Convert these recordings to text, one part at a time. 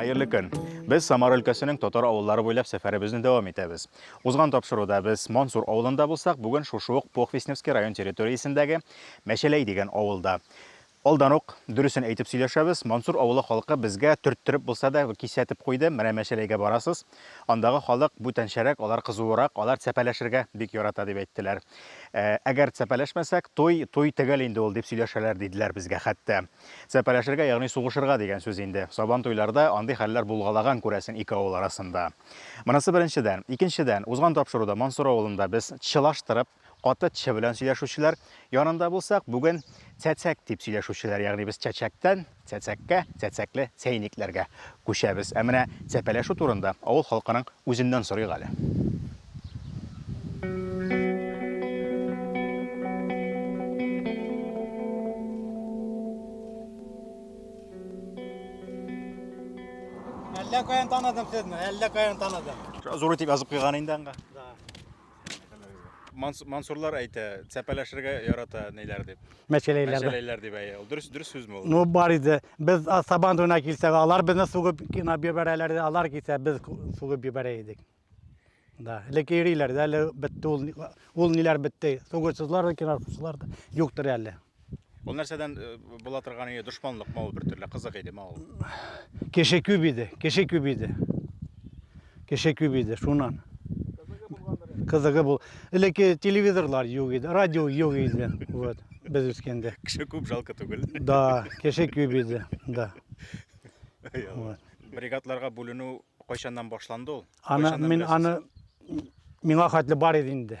Хәерле көн! Без Самар өлкәсенең татар авыллары буйлап сәфәребезне дәвам итәбез. Узган тапшыруда без Мансур авылында булсак, бүген шушы ук Похвистневский район территориясендәге Мәчәләй дигән авылда. Алдан ук дөресен әйтеп сөйләшәбез, Мансур авылы халкы безгә төрттереп булса да кисәтеп куйды, менә Мәчәләйгә барасыз, андагы халык бүтәнчәрәк, алар кызуырак, алар цәпәләшергә бик ярата дип әйттеләр. Ә, әгәр цәпәләшмәсәк, туй, туй төгәл инде ул, дип сөйләшәләр, диделәр безгә хәтта. Сәпәләшергә, ягъни сугышырга дигән сүз инде. Сабан туйларда андый хәлләр булгалаган, күрәсең, ике авыл арасында. Монысы беренчедән. Икенчедән, узган тапшыруда Мансур авылында без чылаштырып, каты ч белән сөйләшүчеләр янында булсак, бүген цәцәк дип сөйләшүчеләр, ягъни без чәчәктән цәцәккә, цәцәкле чәйникләргә Күчәбез. Ә менә сәпәләшү турында авыл халкының үзеннән сорыйк әле. Әллә каян таныдым сезне, әллә каян таныдым. Зур итеп язып куйган инде аңга. Манс- Мансурлар әйтә, цәпәләшергә ярата ниләр дип. Мәчәләйләрдә. Мәчәләйләр дип әйе. Ул дөрес дөрес сүзме ул? Ну бар иде. Без а, сабан туена килсәк, алар безне сугып кына бибәрәләр, иде, алар килсә без ку- сугып бибәрә идек. Да, элек йөриләр дә, әле бетте ул, ни- ул ниләр бетте. Сугышсызлар да, кинашсызлар да юктыр әле. Ул нәрсәдән э, була торган иде? Дошманлыкмы ул бертөрле? Кызык идеме ул? Кеше күп иде, кеше күп иде. Кеше күп иде, шуннан. Кызыгы бул. Элекке телевизорлар юк иде, радио юк иде. Вот, без үскәндә. Кеше күп, жалко түгел. Да, кеше күп иде, да. Ай, Алла. Бригадларга бүленү кайчаннан башланды ул? Аны Кайчаннан мин беләсез? аны миңа хәтле бар иде инде.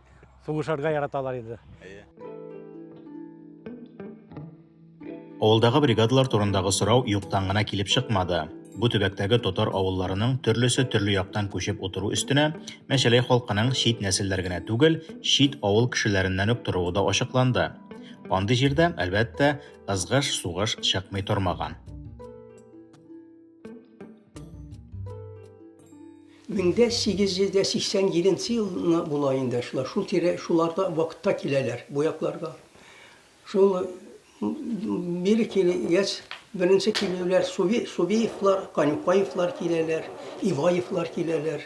сугышарга яраталар иде. Авылдагы бригадалар турындагы сорау юктан гына килеп чыкмады. Бу төбәктәге татар авылларының төрлесе төрле яктан күчеп утыру өстенә Мәчәләй халкының чит нәселләр генә түгел, чит авыл кешеләреннән үк торуы да ачыкланды. Андый җирдә, әлбәттә, ызгыш, сугыш чыкмый тормаган. 1887 елына була инде шулар, шул тирә, шуларда вакытта киләләр бу якларга. Шул бире килгәч, беренче килүләр Суви, Сувиевлар, Канюкаевлар киләләр, Иваевлар киләләр.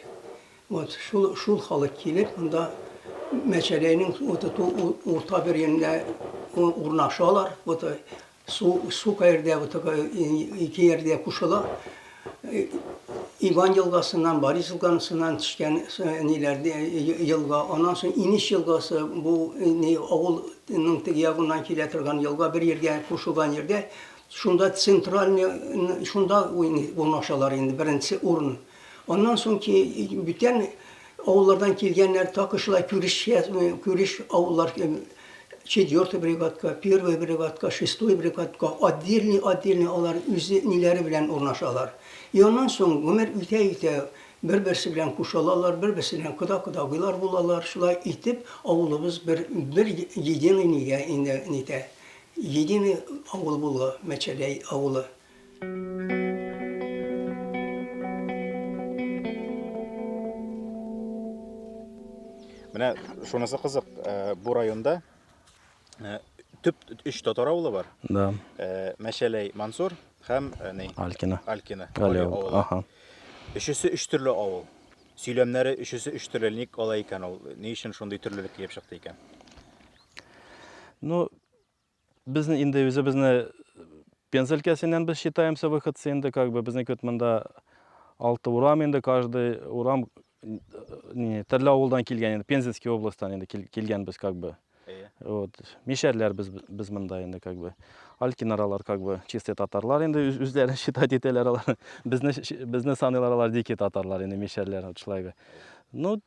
Вот шул шул халык килеп, монда Мәчәләйнең вот урта бер урнашалар. Вот Су, су каердә вот такая ике ярдә кушыла. Иван елгасыннан, Борис елгасыннан төшкән ниләрдә елга. Аннан соң Инеш елгасы бу ни авылның теге ягыннан килә торган елга бер җиргә кушылган җирдә. Шунда центральный шунда урнашалар инде беренче урын. Аннан соң ки, бүтән авыллардан килгәннәр, такы шулай күреш, күреш авыллар, четвертый бригадка, первый бригадка, шестой бригадка, отдельный, отдельный алар үзе ниләре белән урнашалар. И аннан соң гомер үтә-үтә бер-берсе белән кушылалар, бер-берсе белән кода-кодагыйлар булалар. Шулай итеп, авылыбыз бер, бер единый нигә инде нитә, единый авыл була, Мәчәләй авылы. Менә шунысы кызык, э, бу районда э, төп өч татар авылы бар. Да. Э, Мәшәләй Мансур һәм э, ни? Алькина. Алькина. Гали Гали авылы. авылы. Ага. Өчесе өч төрле авыл. Сөйләмнәре өчесе өч төрле ник алай икән ул? Ни өчен шундый төрлелек килеп чыкты икән? Ну, Без инде үзебезне Пенза өлкәсеннән без считаемся выходцы инде, как бы безнеке вот монда алты урам инде, каждый урам не, төрле авылдан килгән инде, Пензенский областьтан инде кил- килгән без как бы. Әйе. Вот. Мишәрләр без, без монда инде как бы. Алькинаралар как бы чистый татарлар инде үз- үзләрен считать итәләр алар. Безне, щ- безне саныйлар алар дикий татарлар инде мишәрләр вот шулай бы. Ну,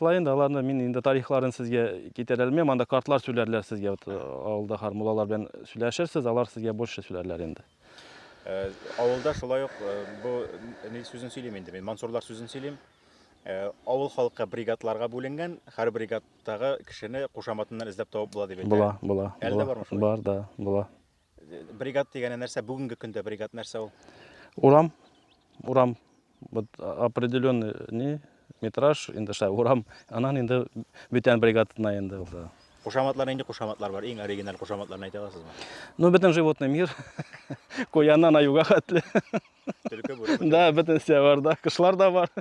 Шулай инде аларны мин инде тарихларын сезгә китерә алмыйм. Анда картлар сөйләрләр сезгә. Вот э, авылда хар муллалар белән сөйләшерсез, алар сезгә больше сөйләрләр инде. Э, авылда шулай ук э, бу ни сүзен сөйлим инде мин мансурлар сүзен сөйлим Э, авыл халкы бригадларга бүленгән, һәр бригадтагы кешене кушаматыннан эзләп табып була дип әйтә. Була, була. Әле дә бармы шулай? Бар да, була. Бригад дигәне нәрсә? Бүгенге көндә бригад нәрсә ул? Урам, урам, вот определенный не метраж, инде шай урам, анан инде бүтән бригадына инде ул да. Кушаматлар нинди кушаматлар бар? Иң оригиналь кушаматларын әйтә аласызмы? Ну, бөтен животный мир, куяннан аюга хәтле. Төлке, бүре. Да, бөтенесе бар да, кышлар да бар.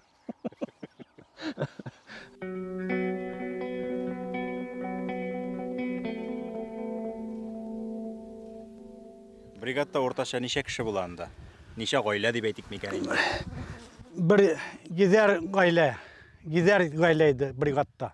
Бригадта уртача ничә кеше була анда? Ничә гаилә дип әйтик микән инде? Бер гизәр гаилә, гизәр гаилә иде бригадта.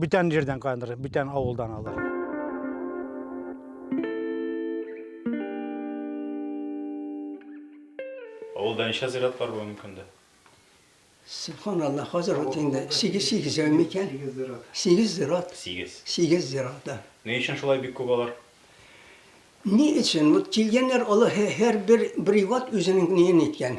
Бүтән җирдән куяннар, бүтән авылдан алар. Авылда ничә зират бар бүгенге көндә? Субханалла, хәзер ут инде 8-8 әү микән? 8 зират. 8. 8 зират, да. Ни өчен шулай бик күп алар? Ни өчен? Вот килгәннәр, алар һәр бер приват үзенең ниен иткән.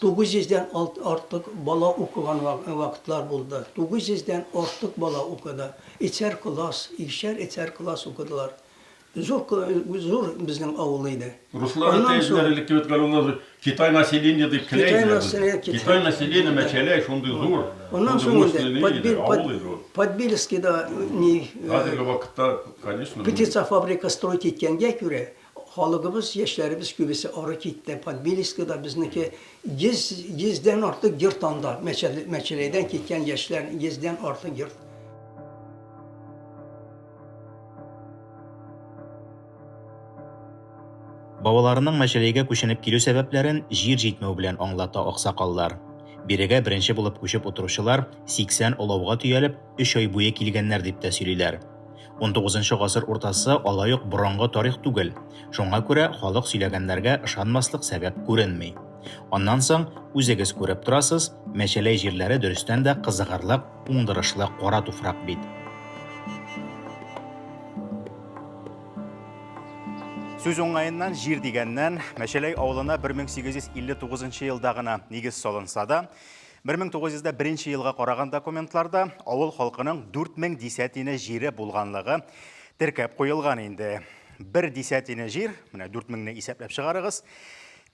Тугыз йөздән артык бала укыган вакытлар булды. Тугыз йөздән артык бала укыды. Өчәр класс, икешәр, өчәр класс укыдылар. Зур, зур безнең авыл иде. Руслар әтәй үзләре элек кебек әле ул Китай население дип кенә әйтәләр. Китай население мәчәләй, шундый зур. Аннан соң инде Подбельскида ни... Хәзерге вакытта, конечно. Птицафабрика строить иткәнгә күрә. Халыгыбыз, яшьләребез күбесе ары китте, Подбельскида безнеке 100, 100 дән артык йорт анда, Мәчәләйдән киткән яшьләр 100 дән артык йорт. Бабаларының Мәчәләйгә күченеп килү сәбәпләрен җир җитмәү белән аңлата аксакаллар. Бирегә беренче булып күчеп утыручылар 80 олауга төялеп, өч ай буе килгәннәр дип тә сөйлиләр. 19 гасыр уртасы алай ук борынгы тарих түгел. Шуңа күрә халык сөйләгәннәргә ышанмаслык сәбәп күренми. Аннан соң, үзегез күреп торасыз, мәчәләй җирләре дөрестән дә кызыгырлык, уңдырышлы кара туфрак бит. Сүз уңаеннан җир дигәннән, Мәчәләй авылына 1859 елда гына нигез салынса да, 1901 елга караган документларда авыл халкының 4000 дисәтине җире булганлыгы теркәп куелган инде. Бер дисәтине җир, менә 4000 не исәпләп чыгарыгыз,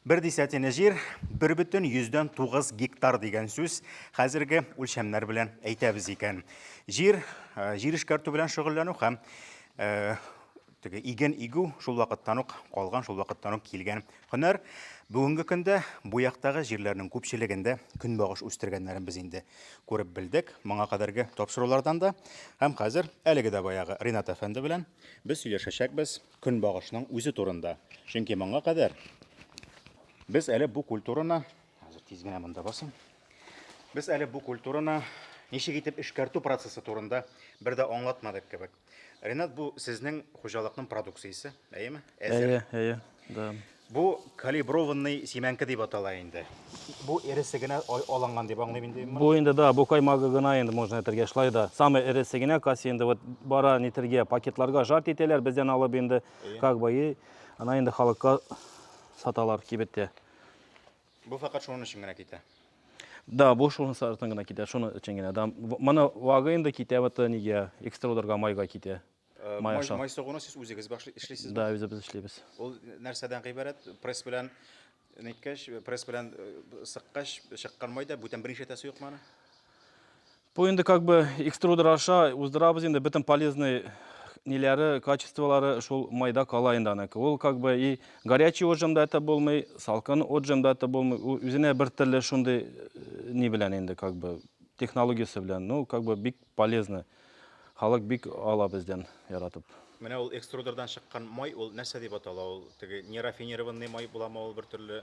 Бер дисәтине җир, бер бөтен йөздән тугыз гектар дигән сүз хәзерге үлчәмнәр белән әйтәбез икән. Җир, э, җир эшкәртү белән шөгыльләнү һәм э, Теге иген игү шул вакыттан ук калган, шул вакыттан ук килгән һөнәр. Бүгенге көндә бу яктагы җирләрнең күпчелегендә көнбагыш үстергәннәрен без инде күреп белдек, моңа кадәрге тапшырулардан да. Һәм хәзер әлеге дә баягы Ринат әфәнде белән без сөйләшәчәкбез көнбагышның үзе турында. Чөнки моңа кадәр без әле бу культураны, хәзер тиз генә монда басам. Без әле бу культураны ничек итеп эшкәртү процессы турында бер дә аңлатмадык кебек. Ренат, бу сезнең хуҗалыкның продукциясе, әйеме? Әзер. Әйе, әйе, да. Бу калиброванный симәнке дип атала инде. Бу эресе генә алынган дип аңлыйм инде. Бу инде да, бу каймагы гына инде можно әйтергә шулай да. Самый эресе генә кассе инде вот бара нитергә, пакетларга жарт итәләр, бездән алып инде как бы и ана инде халыкка саталар кибеттә. Бу фәкать шуның өчен генә китә. Да, бу шуның сартын гына китә, шуның өчен генә. Да, моны вага инде китә вот нигә, экструдерга майга китә. Э, май аша. Май сугуны сез үзегез башлый эшлисез? Да, үзебез эшлибез. Ул нәрсәдән гыйбарәт? Пресс белән ниткәч, пресс белән э, сыккач чыккан май да бүтән берничә тәсе юк маны? Бу инде как бы экструдер аша уздырабыз инде бөтен полезный ниләре, качестволары шул майда кала инде аныкы. Ул как бы и горячий отжим да это булмый, салкын отжим да это булмый. Ул үзенә бер төрле шундый э, ни белән инде как бы технологиясе белән. Ну, как бы бик полезно. Халык бик ала бездән яратып. Менә ул экструдердан чыккан май, ул нәрсә дип атала? Ул теге нерафинированный май буламы ул бер төрле?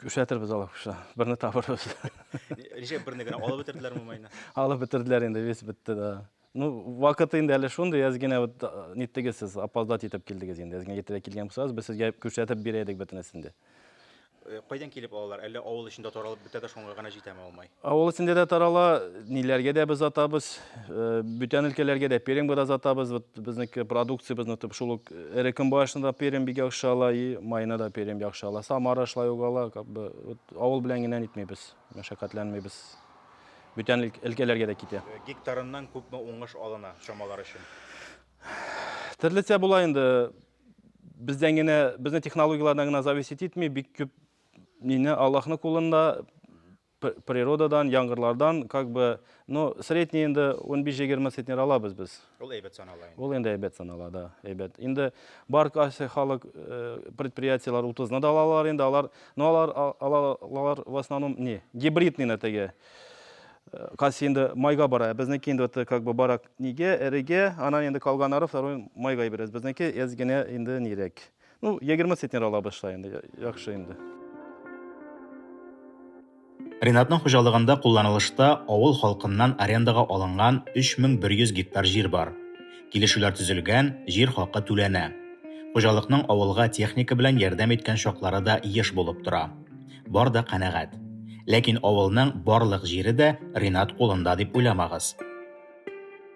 Күрсәтербез алып куша. Берне табырбыз. Ничек берне генә алып бетерделәр мумайны? Алып бетерделәр инде, весь бетте да. Ну, вакыты инде әле шундый, әз генә вот ниттегез сез, опоздать итеп килдегез инде. Әз генә иртәрәк килгән булсагыз, без сезгә күрсәтеп бирә идек бөтенесен дә. Кайдан килеп алалар? Әллә авыл эчендә таралып бетә дә шуңа гына җитәме алмай? Авыл эчендә дә тарала, ниләргә дә без атабыз, бүтән өлкәләргә дә перемга да атабыз. Вот безнеке продукциябезне тып шул ук эре көнбагышына да перем бик яхшы ала и маена да перем яхшы ала. Самара шулай ук ала, как бы вот авыл белән генә нитмибез, мәшәкатьләнмибез. Бүтән өлкәләргә дә китә. Гектарыннан күпме уңыш алына, чамалар өчен? Төрлечә була инде. Бездән генә, безнең технологияләрдән генә зависеть итми, бик күп Мине Аллаһның кулында природадан, яңгырлардан как бы, ну, средний инде 15-20 центнер алабыз без. Ул әйбәт санала инде. Ул инде әйбәт санала, да, әйбәт. Инде бар кайсы халык э, предприятиеләр 30-ны да алалар инде, алар, но ну, алар алалар в основном не, гибридный на теге. Э, кайсы инде майга бара, безнеке инде вот как бы барак неге, эреге, анан инде калганнары второй майга иберәбез. Безнеке эз генә инде нирәк. Ну, 20 центнер ала башлай инде, яхшы инде. Ринатның хуҗалыгында кулланылышта авыл халкыннан арендага алынган 3100 гектар җир бар. Килешүләр төзелгән, җир хакы түләнә. Хуҗалыкның авылга техника белән ярдәм иткән чаклары да еш булып тора. Бар да канәгать. Ләкин авылның барлык җире дә Ринат кулында дип уйламагыз.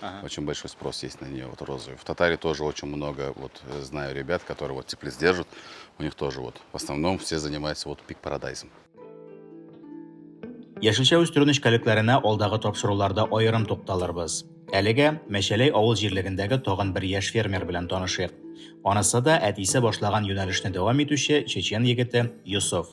Ага. Очень большой спрос есть на нее, вот розовый. В Татарии тоже очень много, вот э, знаю ребят, которые вот теплиц держат, у них тоже вот. В основном все занимаются вот пик парадайзом. Яшелчә үстерү нечкәлекләренә алдагы тапшыруларда аерым тукталырбыз. Әлегә Мәшәләй авыл җирлегендәге тагын бер яшь фермер белән танышыйк. Анысы да әтисе башлаган юнәлешне дәвам итүче чечен егете Юсуф.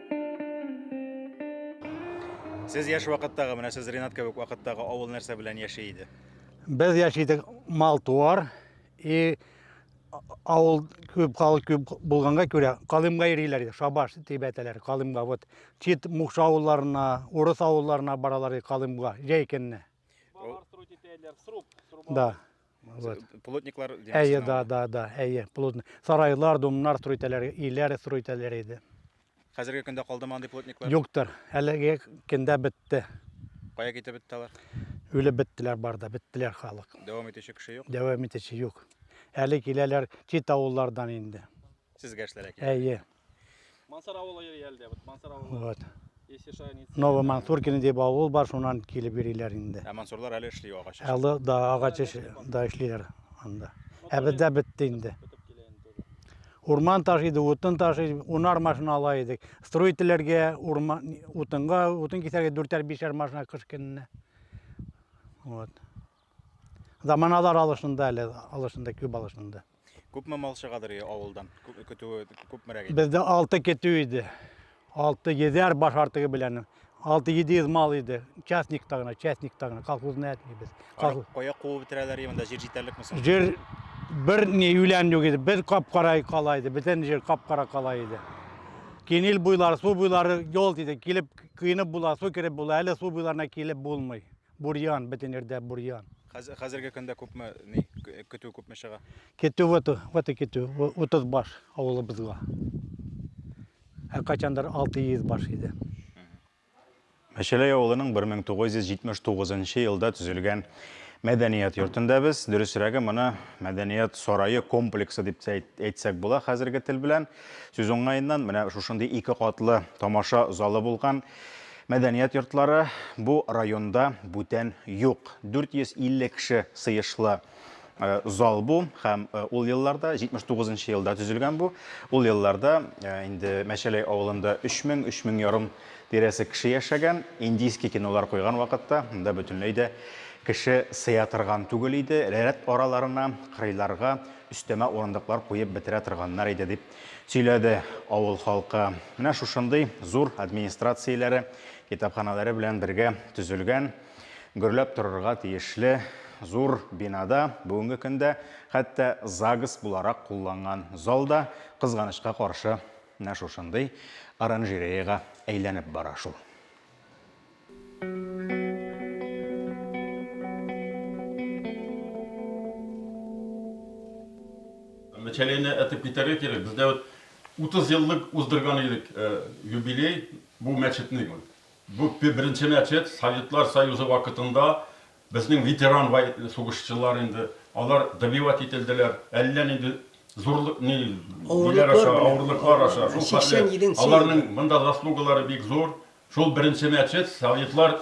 Сез яшь вакыттагы, менә сез Ренат кебек вакыттагы авыл нәрсә белән яши иде? Без яши идек мал-туар и авыл күп халык күп булганга күрә калымга йөриләр иде, шабаш дип әйтәләр, калымга. Вот чит мукшы авылларына, урыс авылларына баралар иде калымга, җәй көнне. Балар срут итәләр, сруб, сруб. Да. Вот. Плотниклар Әйе, да, да, да, әйе, плотник. Сарайлар, домнар строй итәләр, өйләр строй итәләр иде. Хәзерге көндә калдымы андый плотниклар? Юктыр. Әлеге көндә бетте. Кая китеп бетте алар? Үлеп беттеләр барда, беттеләр халык. Дәвам итүче кеше юк? Дәвам итүче юк. Әле киләләр чит авыллардан инде. Сезгә эшләргә килә. Әйе. Мансар авылы йөри әлдә, вот Мансар авылы. Вот. Если что, они... Новый Мансуркин дип авыл бар, шуннан килеп йөриләр инде. Ә Мансурлар әле эшли агач. Әле да агач эш да эшлиләр анда. Ә бездә бетте инде. Урман ташыйды, утын ташыйды, унар машина ала идек. Строительләргә урман утынга, утын кисәргә дүртәр бишәр машина кыш көненә. Вот. Заманалар алышында әле, алышында, күп алышында. Күпме мал чыгадыр авылдан? Көтүе күпмерәк иде? Бездә 6 көтү иде. 6-7 баш артыгы белән 6-700 мал иде. Частникта гына, частникта гына, колхозны әтмибез. Колхоз... Кая куып бетерәләр монда җир җитәрлек соң? Җир бер ни юлән юк иде. Без капкара кала иде, бөтен җир капкара кала иде. Кинил буйлары, су буйлары ял иде. Килеп, кыйнып була, су кереп була, әле су буйларына килеп булмый. Бурьян, бөтен ирдә бурьян. Хәзер, хәзерге көндә күпме ни көтү күпме чыга? Көтү вот, вот и көтү, 30 баш авылыбызга. Ә качандыр 600 баш иде. Мәчәләй авылының 1979 елда төзелгән мәдәният йортында без, дөресрәге моны мәдәният сарае комплексы дип тә әйтсәк була хәзерге тел белән. Сүз уңаеннан, менә шушындый ике катлы тамаша залы булган. Мәдәният йортлары бу районда бүтән юк. 450 кеше сыешлы э, зал бу һәм э, ул елларда 79 нчы елда төзелгән бу. Ул елларда э, инде Мәчәләй авылында 3000 3000 ярым тирәсе кеше яшәгән. Индийский кинолар куйган вакытта монда бөтенләй дә кеше сыя торган түгел иде. Рәт араларына, кырыйларга өстәмә урындыклар куеп бетерә торганнар иде дип Сөйләде авыл халкы. Менә шушындый зур администрацияләре, китапханәләре белән бергә төзелгән, гөрләп торырга тиешле зур бинада бүгенге көндә хәтта ЗАГС буларак кулланган зал да, кызганычка каршы, менә шушындый оранжереяга әйләнеп бара шул. Началение этеп китәргә кирәк. Бездә вот 30 еллык уздырган идек юбилей бу мәчетнең. Бу беренче мәчет Советлар Союзы вакытында безнең ветеран сугышчылар инде. Алар добивать ителделәр. Әллә нинди зурлык, авырлыклар аша. Аларның монда заслугалары бик зур. Шул беренче мәчет советлар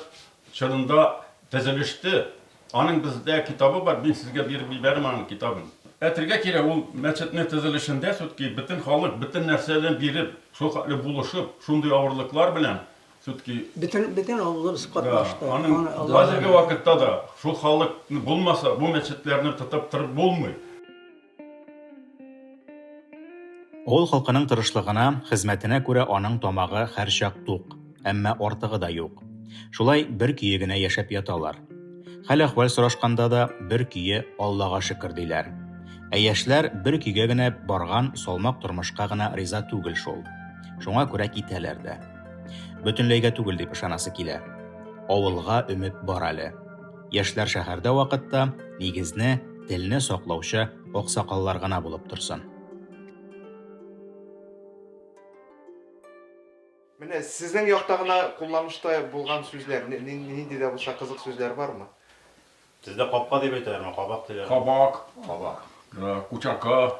чорында төзелеште. Аның бездә китабы бар, мин сезгә биреп ибәрәм аның китабын. Әйтергә кирәк, ул мәчетнең төзелешендә сүтки бөтен халык бөтен нәрсәне биреп, шул хәтле булышып, шундый авырлыклар белән сүтки. Бөтен, бөтен авылыбыз катнашты. Да, аның хәзерге вакытта да шул халык булмаса, бу мәчетләрне тотып торып булмый. Авыл халкының тырышлыгына, хезмәтенә күрә аның тамагы һәрчак тук, әмма артыгы да юк. Шулай бер көе генә яшәп яталар. Хәл-әхвәл сорашканда да бер көе Аллага шөкер диләр. Ә яшьләр бер көйгә генә барган салмак тормышка гына риза түгел шул. Шуңа күрә китәләр дә. Бөтенләйгә түгел дип ышанасы килә. Авылга өмет бар әле. Яшьләр шәһәрдә вакытта нигезне, телне саклаучы аксакаллар гына булып торсын. Менә сезнең якта гына кулланышта булган сүзләр, нинди дә булса кызык сүзләр бармы? Сездә капка дип әйтәләрме, кабак диләрме? Кабак. Кабак. Кучака.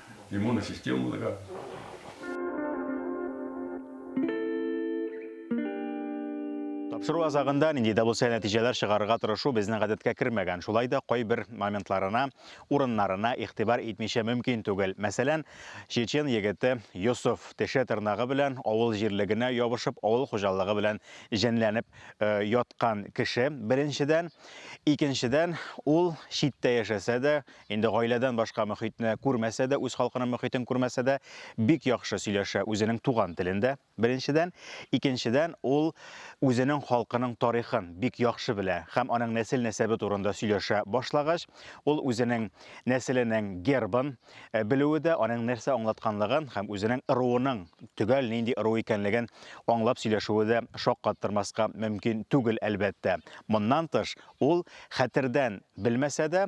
иммунная системаларга. Тапшыру азагында нинди дә булса нәтиҗәләр чыгарырга тырышу безнең гадәткә кермәгән. Шулай да кайбер моментларына, урыннарына игътибар итмичә мөмкин түгел. Мәсәлән, чечен егете Йосыф теше тырнагы белән авыл җирлегенә ябышып, авыл хуҗалыгы белән җенләнеп э, яткан кеше, беренчедән. Икенчедән, ул читтә яшәсә дә, Инде гаиләдән башка мөхитне күрмәсә дә, үз халкының мөхитен күрмәсә дә, бик яхшы сөйләшә үзенең туган телендә, беренчедән. Икенчедән, ул үзенең халкының тарихын бик яхшы белә һәм аның нәсел-нәсәбе турында сөйләшә башлагач, ул үзенең нәселенең гербын белүе дә, аның нәрсә аңлатканлыгын һәм үзенең ыруының төгәл нинди ыру икәнлеген аңлап сөйләшүе дә шаккаттырмаска мөмкин түгел, әлбәттә. Моннан тыш, ул, хәтердән белмәсә дә,